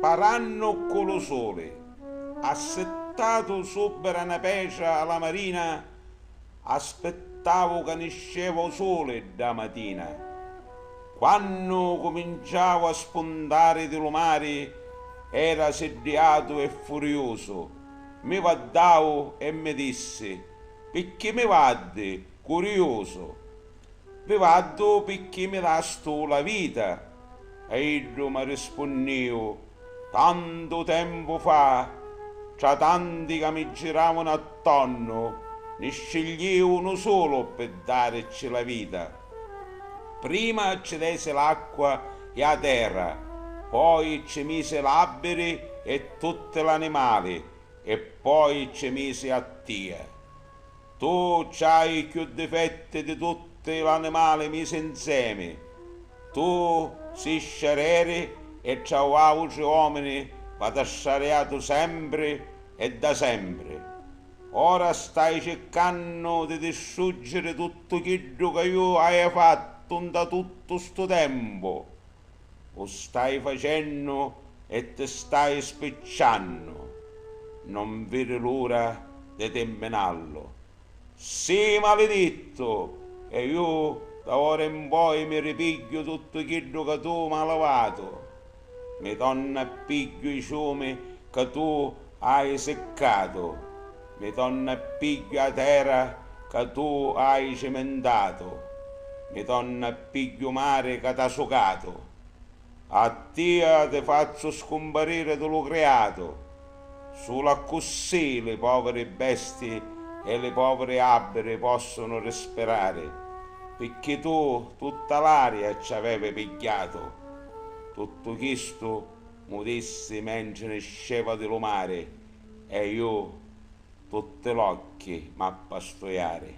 Parannu ccu lu suli, assittatu subbra na petra a la marina, aspittavu ca nisceva u suli dda matina. Quannu cuminciavu a spuntari di lu mari, era siddiatu e furiusu. Mi vaddau e mi dissi, Picchì mi vaddi, curiusu? Vi vaddu picchì mi dastu la vita. E iddu mi rispunniu, Tantu tempu fa, tra tanti ca mi giravanu attonnu, ni scigliu unu sulu pi daricci la vita. Prima ci desi l'acqua e 'a terra, poi ci misi l'àbbiri e tutti l'animali, e poi ci misi a tia. Tu c'hai cchiù difetti di tutti l'animali misi 'nsemi. Tu si' scereri e tra autri òmini v'at'assariatu sempri e da sempri. Ora stai circannu di distruggiri tuttu chiddu ca ju haiu fattu nta tuttu stu tempu. U stai facennu e ti stai spicciannu. Non viri l'ura di tirminallu. Sii malidittu e ju da ora in poi mi ripigghiu tuttu chiddu ca tu m'ha livatu. Mi tornu a pigghiu i ciumi ca tu hai siccatu, mi tornu a pigghiu a tera ca tu hai cimintatu, mi tornu a pigghiu u mari ca t'ha sucatu, a tia ti fazzu scumpariri di lu criatu. Sulu accussì li poviri besti e li poviri abbiri possunu rispirari, picchì tu tutta l'aria ci avevi pigghiatu. Tuttu chistu mu dissi mentri nisceva di lu mari e ju tutti l'occhi m'appastuiari.